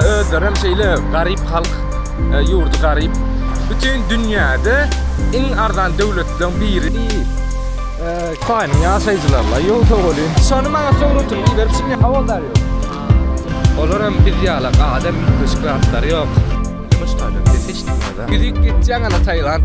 Özlerem şeýle garyp halk, e, ýurdy garyp. Bütün dünýäde iň arzan döwletleriň biri. Hytaýyň ýaşaýjylaryla ýol sowalýyn. Şony maňa sowratyp iber çyny howaldar ýok. Olar hem biz ýala gadam üýtgeşik zatlary ýok. Ýumuş taýdan ses hiç diňlede. Ýüzüp gitýäň ana Taýland.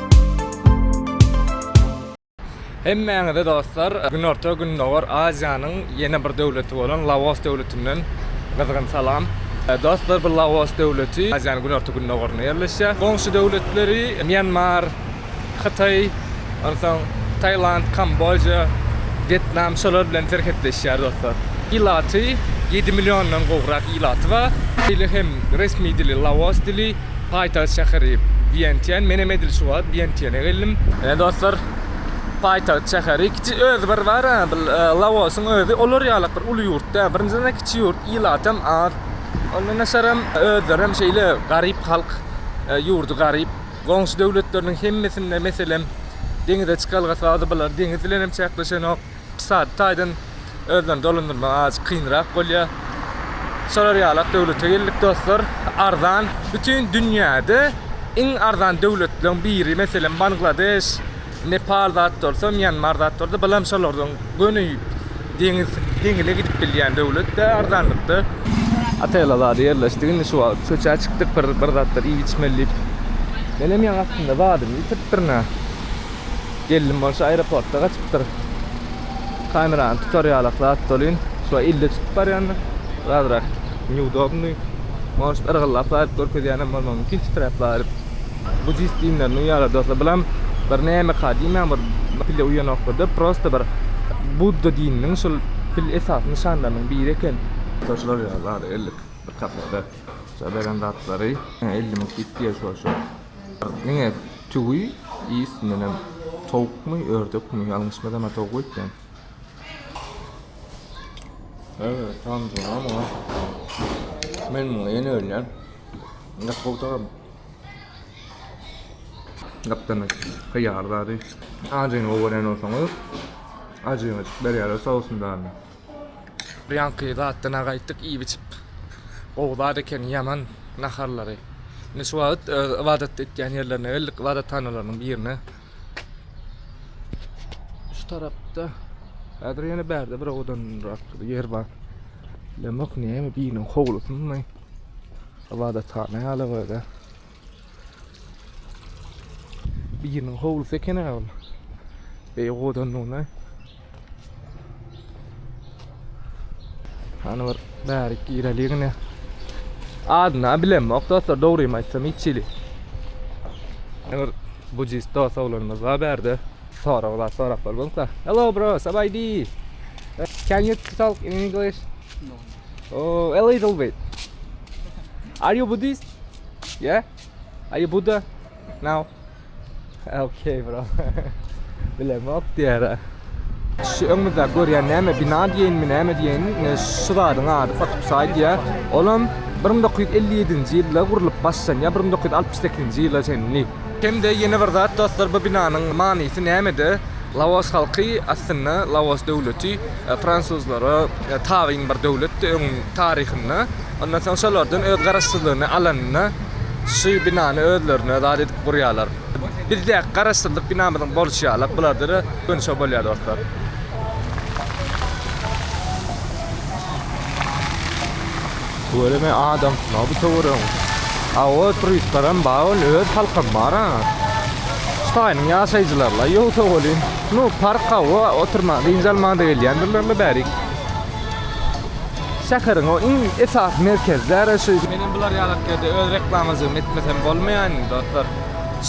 Hemmäňize dostlar Günorta Gündogar Aziýanyň ýene bir döwleti bolan Laos döwletinden gyzgyn salam. Dostlar bu Laos döwleti Aziýanyň günorta gündogarynda ýerleşýär. Goňşy döwletleri Mýanmar, Hytaý, onsoň Tailand, Kamboja, Wýetnam şolar bilen serhetleşýär dostlar. Ilaty ýedi milliondan gowrak ilaty bar. Dili hem resmi dili Laos dili. Paýtagt şäheri Wýentiýen. Menem edil şu wagt Wýentiýene geldim. Ine dostlar, paýtagt şäheri. Kiçi özi bir bar-a, bir Laosyň özi olar ýalak bir uly ýurt däl. Birinjiden-de kiçi ýurt, ilatam az. Ondan daşaram, özlerem şeýle garyp halk, ýurdy garyp. Goňşy döwletleriniň hemmesinde, meselem, deňize çykalgasy bar-da, bular deňiz bilenem çäkleşenok. Ykdysady taýdan özlerini dolandyrmagy azajyk kynrak bolýar. Şolar ýalak döwlete geldik dostlar. Arzan bütin dünýäde iň arzan döwletleriň biri meselem Bangladeş, Nepal zat bolsa Mýanmar zat bolsa bulam şolardan göni deňiz deňize gidip bilýän döwlet de arzanlykda. Otele zady ýerleşdik indi şu wagt köçä çykdyk bir bir zatlar iýip içmeli diýip. Menem ýaňy aslynda zadymy ýitiripdirin-ä. Geldim bolşy aeroportda gaçypdyr. Kamerany tutar ýalak zat dolyn. Şular ille tutup barýanda bir azrak neudobnyý. Может yrgyllap zaryp görkezýänem bolmagy mümkin titräp zaryp. Bu jis diýimler nu ýaly dostlar bulam bir nämeka diýmäň bir pille uýanokda prosta bir Budda dininiň şul pil esasy nyşanlarynyň biri eken. Şo şular ýaly zady ellik bir kafede şo beren zatlary elli müň kit diýer şo şo Diňe tüwi i üstündenem towukmy ördekmi ýalňyşmasam a towuk öýtýän. Öýe tam duramok a. Men muňa ýene ölýän. Ýok gowudaram. Gapdalynda hyýar zady. Ajyny gowy görýän bolsaňyz ajyňyjyk berýärler sousyn zady. Birýanky zatdan-a gaýtdyk iýip-içip. Gowy zat ekeni ýaman naharlary. Indi şu wagt öz ybadat etýän ýerlerine geldik, ybadathanalarnyň birine. Şu tarapda häzir ýene bärde bir owadanrak ýer bar. Bilemok näme biriniň howlusymy ybadathana ýaly bolýar. Biriniň howlusy eken aga bu. Beý godanlygyna. Hany bir bärik gireli gine. Adyny bilemok dostlar, dogrymy aýtsam hiç hili. Bir budist dost oglanymyz bar bärde. Sorag bar, sorap bolmadyk da. Hello bro, sabaydi. Can you talk in English? No. Oh, a little bit. Are you Buddhist? Yeah? Are you Buddha? No. Okay bro. Bilemok diýär. Şu öňümizde görýän näme bina diýenmi näme diýeni ine şu zadyň ady Fatupsay diýär. Olam 1957-nji ýylda gurlup başlanýar 1968-nji ýyla çenli. Hem-de ýene bir zat dostlar bu binanyň manysy nämede? Laos halky aslynda Laos döwleti e, fransuzlara e, tabyn bir döwletdi öň taryhynda. Ondan soň şolardan öz garaşsyzlygyny alanyna şu binany özlerine zat edip gurýarlar. Bizdäki garaşsyzlyk binamyzyň bolşy ýalak bularda-da göni şo bolýar dostlar. Göreme adam sunag bu töwerek. Awa turistlaram bar ol öz halkam bar-a. Ştaýynyň ýaşaýjylarla ýogsa welin. Nu park awa oturma dynç almaga gelýändirler-le bärik. Şäheriň o iň esasy merkezleri şu. Menem bular ýalak ýerde öz reklamajygym etmesem bolmaýan indi dostlar.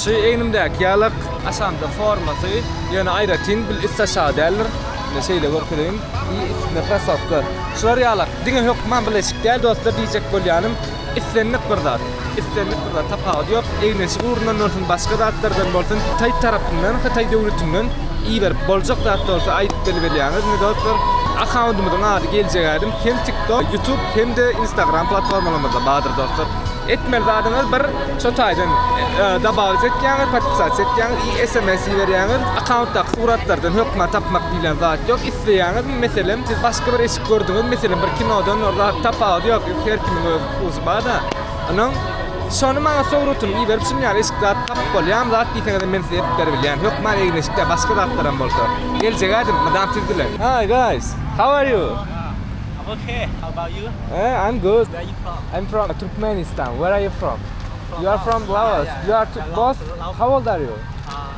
Şu egnimdäki ýalak. Aşamda formasy ýöne aýratyn bil üst aşagy däldir. Indi şeýle görkezeýin. I üstünde krossowka. Şular ýalak. Diňe hökman bileşik däl dostlar diýjek bolýanym. Islendik bir zat, islendik bir zat, tapawudy ýok, egin-eşik ugrundan bolsun, başga zatlardan bolsun, Hytaý tarapyndan, Hytaý döwletinden iberip boljak zat bolsa aýdyp bilberýäňiz, indi dostlar, akkauntymyzyň ady geljek ädim, hem TikTok, YouTube hem-de Instagram platformalarymyzda bardyr dostlar. Etmeli zadyňyz bir, şo taýdan dabawit etýäňiz, podpisasiýa etýäňiz i sms iberýäňiz, akkauntdaky suratlardan hökman tapmak diýlen zat ýok, isleýäňizmi, meselem, siz başga bir eşik gördüňiz, meselem, bir kinodan, tapawudy ýok. Her kimiň öz ukuzy bar-da. Ynam, şony maňa sowrutyny iberip, şunuň ýaly eşik zat tapyp bolýarmy? Zat diýseňizem men size edip beribilýän. Hökman egin-eşikde başga zatlaram bolsa. Geljegä dim, mydam sizdiler. Hi guys, how are you? I'm ok, how about you? I'm good. Where are you from? I'm from Turkmenistan. Where are you from? You are from Laos. You are both how old are you?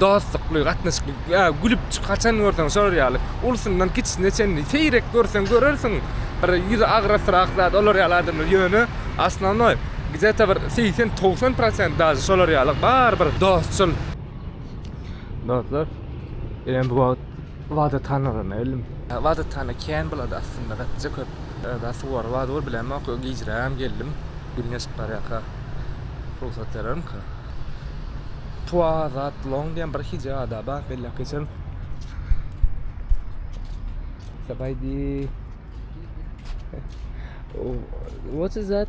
Dostlukly gatnaşykly ýa gülüp çyk haçan görseň şolar ýaly ulsyndan kiçisine çenli seýrek görseň görersiň bir ýüzi agrasrak zat olar ýaly adamlar ýöne osnovnoý gde ta bir segsen togsan prosent daže şolar ýaly barybir dostçul dostlar eýýäm bu wagt Wada tanagyn elim. Wada tana kän bulady aslynda gatyja köp da suwary wada bol bilemok yo gijräm geldim gün geçip barýaka rugsat berermika twa zat long diýen bir hije ada bar belläp geçerin sabaýdi what is that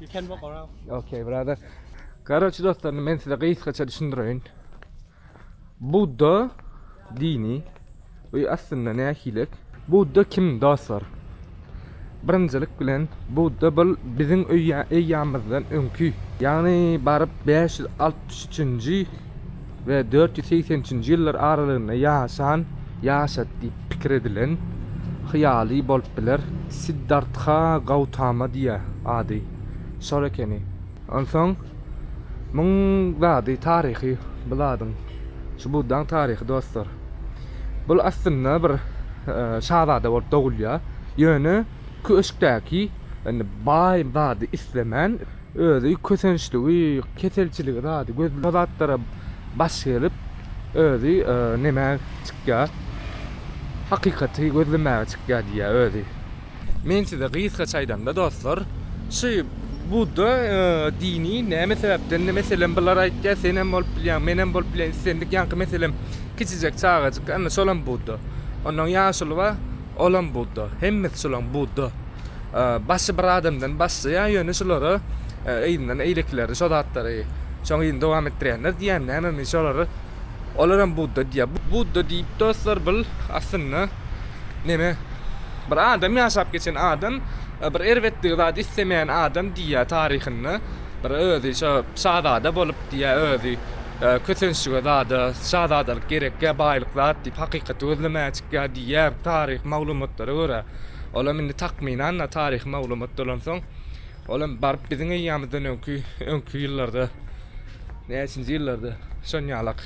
you can walk around. Okay, brother. Garoçy dostlar, men size gysgaça düşündireýin. Budda dini we aslynda nähilek? Budda kim dostlar? Birinjilik bilen Budda bul biziň öýýamyzdan öňki, ýagny baryp 563-nji we dört ýüz segsen üçünji ýyllar aralygynda ýaşan, ýaşady diýip pikir edilen hyýaly bolup biler. Siddartha Gautama diýýär ady. Şol ekeni. Onsoň muň zady taryhy bu zadyň. Şu Buddaň taryhy dostlar. Bul aslynda bir şazada bolup dogulýar. Ýöne köşkdäki indi baý zady islemän. Özi kösençligi, keselçiligi zady göz bu zatlara baş gelip özi neme çykýa hakykaty gözlemäge çykýa diýýä özi. Men size gysgaça aýdamda dostlar şu budda dini näme sebäpden meselem bular aýtýa senem bolup bilýäň menem bolup bilýän islendik ýaňky meselem kiçijek çagajyk ana şolam budda ondan ýaşuly bar olam budda hemmesi şolaň budda. Başy bir adamdan başlaýar ýöne şulara yzyndan eýlekileri şo zatlary şoň yzyny dowam etdirýänler diýýän nämemi şolary olaram Budda diýýär. Budda diýip dostlar bul aslynda neme bir adam ýaşap geçen adam bir erbetligi zat islemeýän adam diýýär taryhynda bir özi şo şazada bolup diýýär özi kösençlige zada şazadalyk gerek ýa baýlyk zat diýip hakykaty gözlemäge çykýar diýýär taryhy maglumatlara görä. Olam indi takmynan-da taryhy maglumat dolansoň, olam baryp biziň eýýamyzdan öňki, öňki ýyllarda, näçinji ýyllarda şonýalak.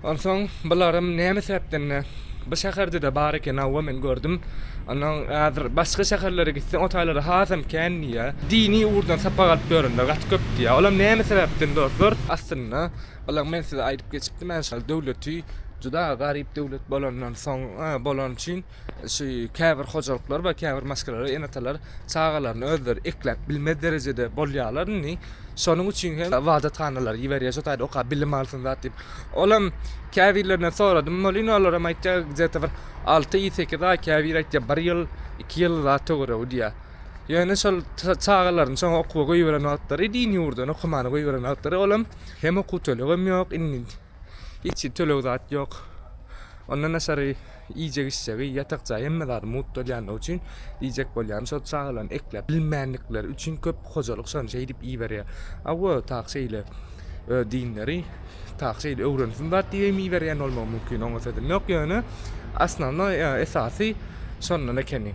Onsoň bularam näme sebäpden-de bu şäherde-de bar eken, hawa men gördüm. Onsoň häzir başga şäherlere gitseň o taýlarda hasam kän diýýär. Dini ugurdan sapak alyp ýörenler gaty köp diýýär. Olam näme sebäpden dostlar? Aslynda bulaň men size aýdyp geçipdim, än şol döwleti juda garyp döwlet bolandan soň, bolan üçin Şu käbir hojalyklar we käbir maşgalalar, ene-atalar çagalaryny özleri ekläp bilmez derejede bolýarlar indi. Şonuň üçin hem ybadathanalary iberýär, şo taýda okap bilim alsyn zat diýip. Ol hem käbirlerinden soradym welin, olar hem aýtýar, gde-te bir alty aý, sekiz aý, käbiri aýtýar bir ýyl, iki ýyl zat töweregi diýýär. Ýöne şol çagalaryny şoňa okuwa goýberen wagtlary, din ýurduna okumana goýberen wagtlary ol hem, hem okuw tölegem ýok, indi Hiç töleg zat ýok. Ondan daşary iýjek-içjegi, ýatak jaý hemme zady mugt bolýandygy üçin diýjek bolýan şol çagalaryny ekläp bilmändikleri üçin köp hojalyk şony şeýdip iýiberýär. Hawa tak şeýle öz dinleri tak şeýle öwrensin zat diýip hem iýiberýän bolmagy mümkin oňa sözüm ýok ýöne osnownoý esasy şondan ekeni.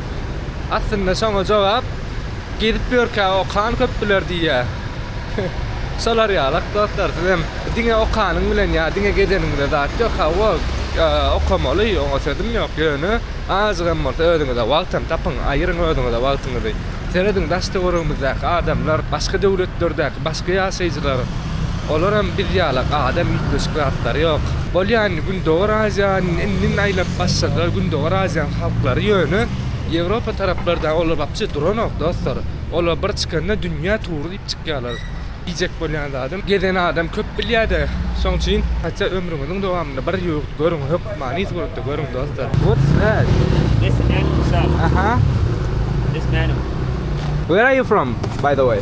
Aslynda şoňa jogap Gezip ýörkä okan köp biler diýýär. Şolar ýaly dostlar siz hem diňe okanyň bilen ýa diňe gezeniňde zat ýok hawa okamaly oňa sözüm ýok ýöne azajyk hem bolsa özüňize wagt hem tapyň aýyryň özüňize wagtyňyzy. Serediň daş töweregimizdäki adamlar başga döwletlerdäki Başga ýaşaýjylar, Olaram biz ýaly adam üýtgeşik zatlary ýok. Bolýan Gündogar Aziýany indin aýlap başladylar Gündogar Aziýanyň halklary ýöne Ýewropa taraplarda olar wapşe duranok dostlar olar bir çykanda dünýä tury diýip çykýarlar diýjek bolýan zadym gezen adam köp bilýäde şoň üçin haça ömrüňiziň dowamynda bir ýurt görüň hökmany suratda görüň dostlar. What's that? This animal shop. Aha. This menu. Where are you from by the way?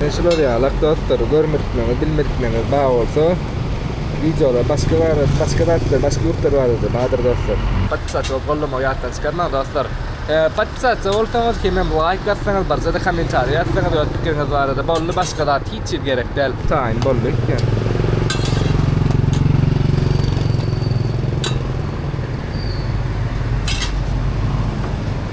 Men şular ýalak dostlar görmedikmeňiz bilmedikmeňiz bar bolsa wideolar başga bar başga zatlar başga ýurtlar barada bardyr dostlar. Podpisatsa bolup gollamagy ýatdan çykarmaň dostlar. Podpisatsa bolsaňyz hemem laýk bassaňyz birjede kommentariýa ýazsaňyz öz pikiriňiz barada boldy başga zat hiç çiz gerek däl. Taýyn boldy ýöne.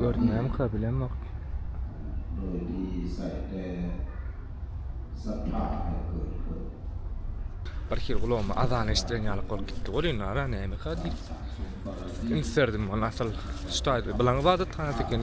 Görünýärmikä bilemok. Bir hili gulagyma azan eşidilen ýaly bolup gitdi welin ara nämekä diýip. Üns berdim ol asyl şu taýda bilaň ybadathanasyken.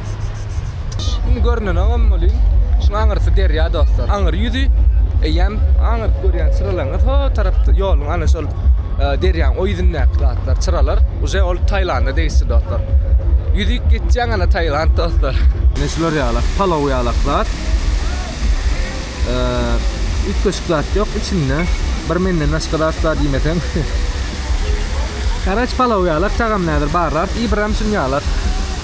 Şimdi görünen olam bolýar. Şuň aňyrsy derýa dostlar. Aňyr ýüzi eýýäm aňyryp görýän çyralaryňyz o tarapda ýoluň ana şol e, derýaň o ýüzündäki zatlar, çyralar uje ol Taýlanda degişli dostlar. Ýüzük geçýän ana Taýland dostlar. Ne şular ýalak, palaw ýalak zat. E, Üýtgeşik zat ýok içinde. Bir menden başga zat bar diýmeseň. Karaç palaw ýalak, çagam nädir barlar. Ibram şun ýalak.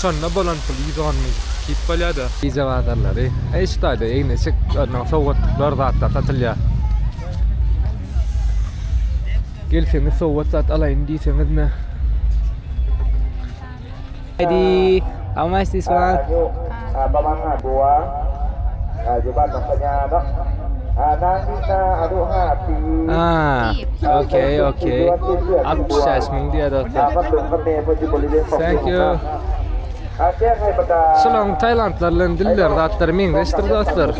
Şonda bolan pul ýüz on mil. Kip bolýa-da. Gije bazarlary. Eş taýda egin-eşik, örnegiň sowgatlyklar, zatlar satylýar. Gelseňiz sowgat zat alaýyn diýseňizme. Heidi, how much this one? Abaman-a buwa, aýdyban maşgalaýamak, anaň diýsa aduha pi. Aa ok ok. 60 ýaş myn diýýär dostlar. Thank you. Şularyň taýlandlar bilen diller zatlary meňzeşdir dostlar.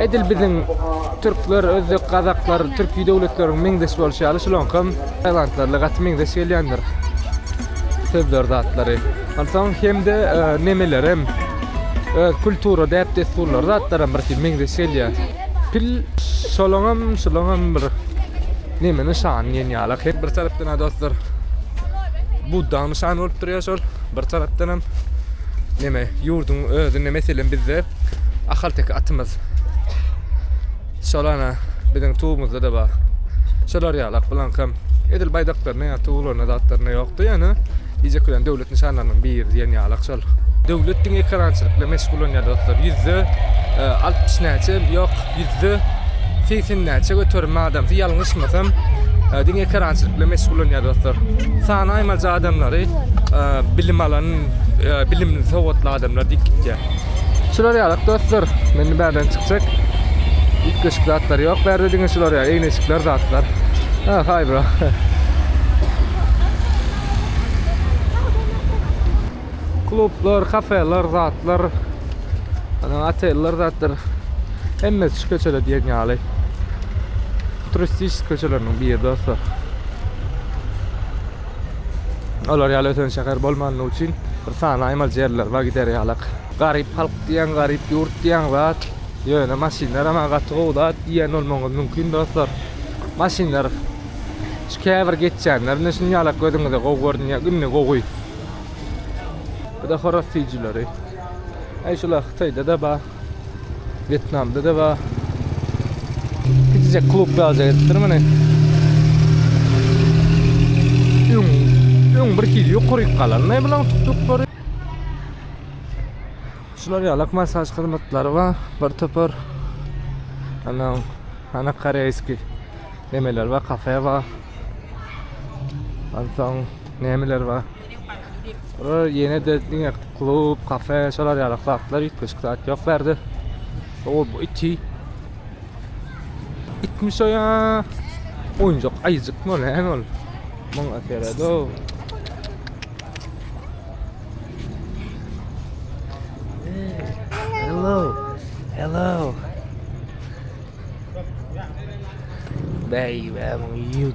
Edil biziň türkler, özbek, gazaklar, türki döwletleriň meňzeş bolşy ýaly şularyňkam taýlandlarla gaty meňzeş gelýändir. Sözler zatlary. Onsoň hem-de nemelerem, öz kultura däp-dessurlary zatlaram bir hili meňzeş gelýär. Pil şolaňam, şulaňam bir neme nyşany diýen ýaly. Hek bir tarapdan-a dostlar Buddaň nyşany bolup durýar şol, bir tarapdanam neme, ýurduň özünde, meselem, bizde ahalteke atymyz. Şol ana biziň tugumyzda-da bar. Şolar ýaly akbulankam edil baýdaklarynda ýa tuglarynda zatlarynda ýokdy, ýöne diýjek bilen döwlet nyşanlarynyň biri diýen ýalak şol. Döwlet diňe ekerançylyk bilen meşgullanýar dostlar. Ýüzde altmyş näçe, ýok, ýüzde segsen näçe göterim adamsy ýalňyşmasam diňe ekerançylyk bilen meşgullanýar dostlar. Sanaýmaja adamlary bilim alan, bilimli, sowatly adamlar diýip gitýär. Şular ýaly dostlar. Mende bärden çykjak. Üýtgeşik zatlar ýok bärde diňe şular ýaly egneşikler zatlar. Ha, haý bro. Klublar, kafeler zatlar. Ana oteller zatlar. Hemmesi şu köçede diýen ýaly. Turistik köçeleriniň biri dostlar. Olar ýaly ösen şäher bolmany üçin bir sany aýmaly ýerler bar gider ýalak. Garyp halk diýen garyp ýurt diýen zat ýöne maşynlar maňa gaty gowy zat diýen bolmagyňyz mümkin dostlar. Maşynlar şu käbir geçýänlerinde şun ýalak gözüňize gowy görünýär indi gowy. Bu da horaz süýjüleri. Eý şular hytaýda da bar. Wýetnamda da bar. Kiçijek klub ýaly edipdir muny. Öň, öň bir hili ýokaryk galanlaý bulaň tutduklary. Şular ýalak masaž hyzmatlary bar. Bir topar ana ana koreýski nemeler bar, kafe bar. Onsoň nemeler bar? Bura ýene-de diňe klub, kafe, şolar ýaly zatlar, üýtgeşik zat ýok bu ýerde. O, bu iti. Itmiş o ýa. Oýunjak aýjykmy ol, näme ol? Muňa serede. Hello. Hello. Baby, I'm you.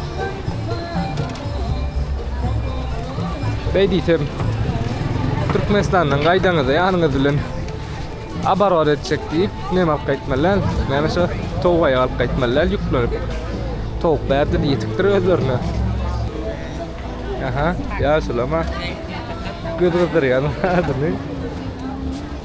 Beý diýsem, Türkmenistandan gaýdaňyzda ýanyňyz bilen abarbar etjek diýip, näme alyp gaýtmaly däl? Näme şo towuk aýak alyp gaýtmaly däl ýüklänip. Towuk bärde ýetikdir özlerine. Aha, ýaşulama. Göz gyzdyrýan adyny.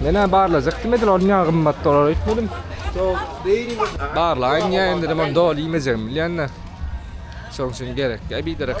Menä barlajakdym edil ol niýe gymmat dolar öýtmedim. Barlaýyn diýen dedim ol doly iýmejegim bilýände. Şoň üçin gerek. Äý biderek.